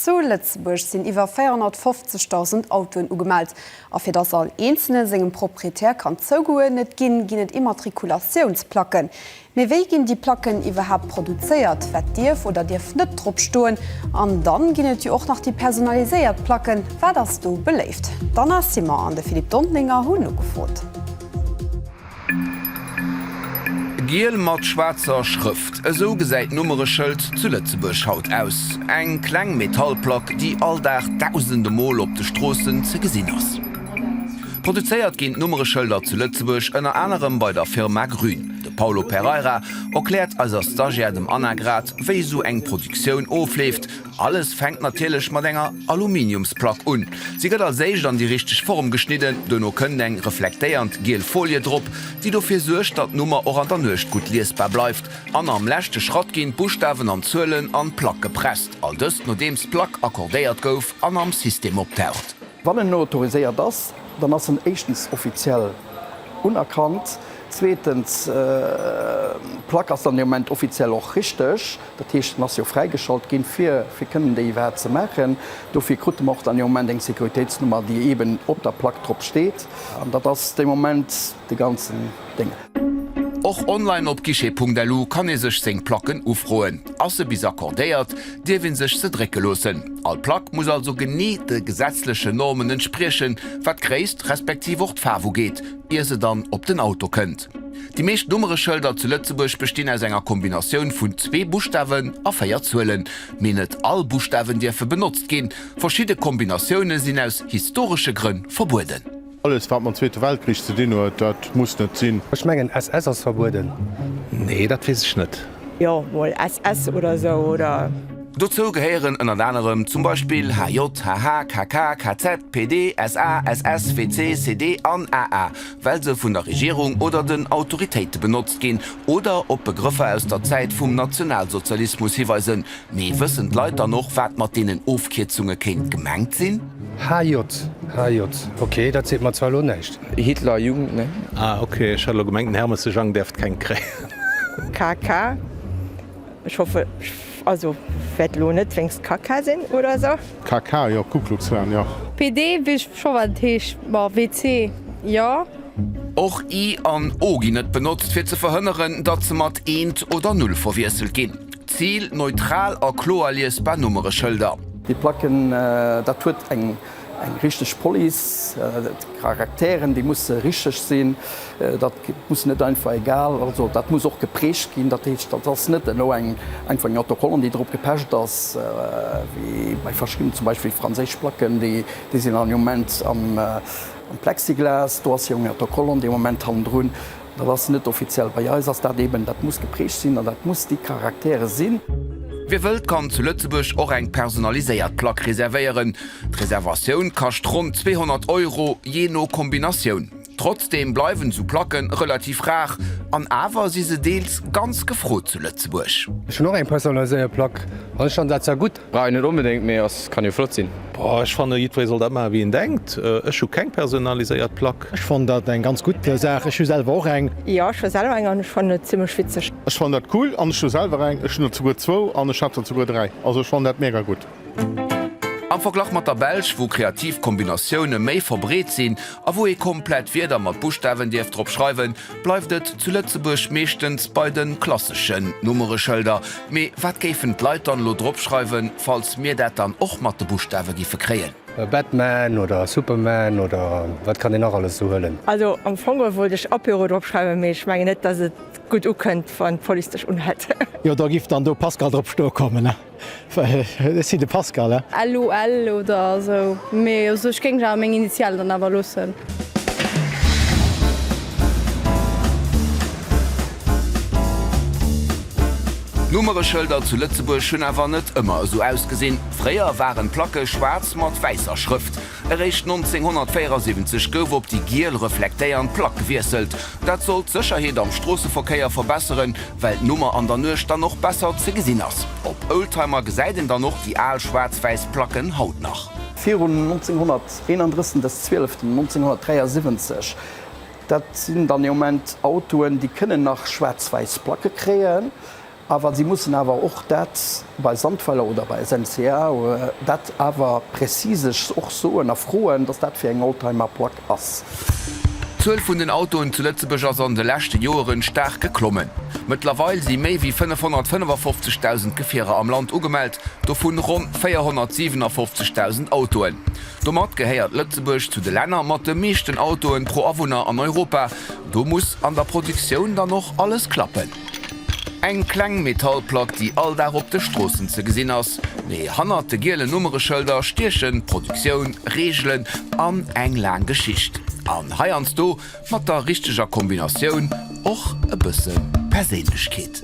Zu Lëtzebuerg sinn iwwer 450.000 Autoen ugemellt. A fir datt all Eenzelne sengem Proprietär kann zougeuerdnet ginn, ginn et Immatrikulatiounsplacken. Mee wéi ginn déi Placken iwwerhaapt produzéiert? Wat dierf oder dierf net drop stoen? An dann ginn et jo och nach déi personaliséiert Placken. Wat ass do beléift? D'Anna Simon an de Philippe Dontlinger hunn nogefrot. Giel mat schwaarzer Schrëft, esou gesäit d'Nummereschëld zu Lëtzebuerg haut aus. Eng kleng Metallplack, déi all Dag dausende Mol op de Stroossen ze gesinn ass. Produzéiert ginn d'Nummereschëlder zu Lëtzebuerg ënner anerem bei der Firma Grün. De Paulo Pereira erkläert eiser Stagiaire, dem Anna, grad wéi esou eng Produktioun ofleeft. Alles fänkt natierlech mat enger Aluminiumsplack un. Si gëtt als éischt an déi richteg Form geschnidden. Duerno kënnt eng reflektéiernd giel Folie drop, déi dofir suergt, datt d'Nummer och an der Nuecht gutt liesbar bleift. An am leschte Schratt ginn d'Buschtawen an d'Zuelen an d'Plack gepresst. All dëst nodeems d'Plack accordéiert gouf an am System optaucht. Wann en autoriséiert ass, dann ass en éischtens offiziell unerkannt, zweetens, d'Plack ass dann dee Moment offiziell och richteg, dat heescht, en ass jo fräigeschalt ginn, fir fir kënnen déi iwwerhaapt ze maachen. Dofir krut en och dann dee Moment eng Sécuritéitsnummer, déi eeben op der Plack drop steet, an dat ass dee Moment, de ganzen Dénger. Och online op guichet.lu kann ee sech seng Placken ufroen. Ass se bis accordéiert, dierf ee sech se drécke loossen. All Plack muss also genee de gesetzlechen Normen entspriechen, wat d'Gréisst respektiv och d'Faarf ugeet, ier se dann op den Auto kënnt. Déi meescht Nummereschëlder zu Lëtzebuerg bestinn aus enger Kombinatioun vun zwee Buschtawen a véier Zuelen. Mee net all Buschtawen dierfe benotzt ginn, verschidde Kombinatioune sinn aus historesche Grënn verbueden. Alles wat mam zweete Weltkrich ze dinn huet, dat muss net sinn. Ech mengen SS ass verbueden. Nee dat wees ech net. Jo mol SS oder sou oder? Dozou gehéieren ënnert anerem zum Beispill HJ, HH, KK, KZ, PD, SA, SS, WC, CD an AA, well se vun der Regierung oder den Autoritéite benotzt ginn oder op Begrëffer aus der Zäit vum Nationalsozialismus hiweisen, Mee wëssen d'Leit dann och, wat mat deenen Ofkierzunge kéint gemengt sinn? HJ, HJ, ok, dat seet mer zwar elo näischt. Hitlerjugend, ne? Ah, ok, ech hat elo gemengt, den Hermes de Jang däerft keng kréien. KK, Ech hoffe, also wäert elo net wéinst Kaka sinn oder esou. KK, Jo, Ku Klux Klan, jo. PD, Weess ech scho wat et heescht, ma WC, jo. Och I an O ginn net benotzt, fir ze verhënneren, datt se mat eent oder null verwiesselt ginn. Zil, Neutral a kloer liesbar Nummereschëlder. Déi Placken, dat huet eng richteg Police, d'Charakteren, déi musse richteg sinn. Dat muss net einfach egal, also dat muss och geprägt ginn. Dat heescht, dat ass net elo eng einfach eng Autocollant, déi drop gepecht ass, wéi bei verschiddenen, zum Beispill franséisch Placken, déi sinn an dem Moment am Plexiglas, do ass jo eng Autocollant dee Moment hannendrun. Dat ass net offiziell. Bei eis ass dat eeben, dat muss geprägt sinn an dat muss déi Caractère sinn. Wie wëllt, kann zu Lëtzebuerg och eng personaliséiert Plack reservéieren. D'Reservatioun kascht ronn 200 Euro, jee no Kombinatioun. Trotzdeem bleiwen esou Placke relativ rar an awer si se deels ganz gefrot zu Lëtzebuerg. Ech hunn och eng personaliséiert Plack an ech fannen dat sehr gutt. Brauch een net onbedéngt, mee ass kann jo flott sinn. Boah, ech fannen jiddweree soll dat maachen wéi en denkt. Ech hu keng personaliséiert Plack. Ech fannen dat eng ganz gutt Saach. Ech hu selwer och eng. Jo, ech hu selwer eng an ech fannen et zimlech witzeg. Ech fannen dat cool an ech hu selwer eng. Ech hunn der zuguer zwou an ech hat der zuguer dräi. Also ech fannen dat mega gutt. Am Verglach mat der Belsch, wou kreativ Kombinatioune méi verbreet sinn a wou ee komplett Wierder mat Buschtawen dierf drop schreiwen, bleift et zu Lëtzebuerg meeschtens bei de klasseschen Nummereschëlder. Mee wat géifen d'Leit dann elo drop schreiwen, falls mir dat dann och mat de Buschtawe giffe kréien? Batman oder Superman oder wat kann een nach alles esou huelen? Also am Fong wollt ech Apéro drop schreiwen, mee ech mengen net, dass et gutt ukënnt, wann d'Police dech unhält. Jo, do giff dann do Pascal drop stoe kommen. Ech sinn de Pascal. LOL oder esou, mee also ech géing awer meng Initialen dann awer loossen. D'Nummereschëlder zu Lëtzebuerg hunn awer net ëmmer esou ausgesinn. Fréier waren d'Placke schwaarz mat wäisser Schrëft. Eréischt 1974 gouf op déi giel reflektéiernd Plack gewiesselt. Dat soll d'Sécherheet am Stroosseverkéier verbesseren, well d'Nummer an der Nuecht dann och besser ze gesinn ass. Op Oldtimer gesäit een dann och déi al schwaarzwäiss Placken haut nach. Virun 1931 de 12 1973, dat sinn dann ee Moment Autoen, déi kënnen nach schwaarzwäiss Placke kréien. Awer si mussen awer och dat bei Sandweiler oder bei SNCA dat awer präzisesch och soen a froen, datt dat fir eng Oldtimerplack ass. D'Zuel vun den Autoen zu Lëtzebuerg ass an de leschte Joeren staark geklommen. Mëttlerweil si méi wéi 555.000 Gefierer am Land ugemellt, dovun ronn 457.000 Autoen. Domat gehéiert Lëtzebuerg zu de Länner mat de meeschten Autoen pro Awunner an Europa. Do muss an der Produktioun dann och alles klappen. Eng kleng Metallplack, déi all Dag op de Stroossen ze gesinn ass, mee hannert de gielen Nummereschëlder stiechen Produktioun, Reegelen an eng laang Geschicht, an heiansdo mat der richteger Kombinatioun och e bësse Perséinlechkeet.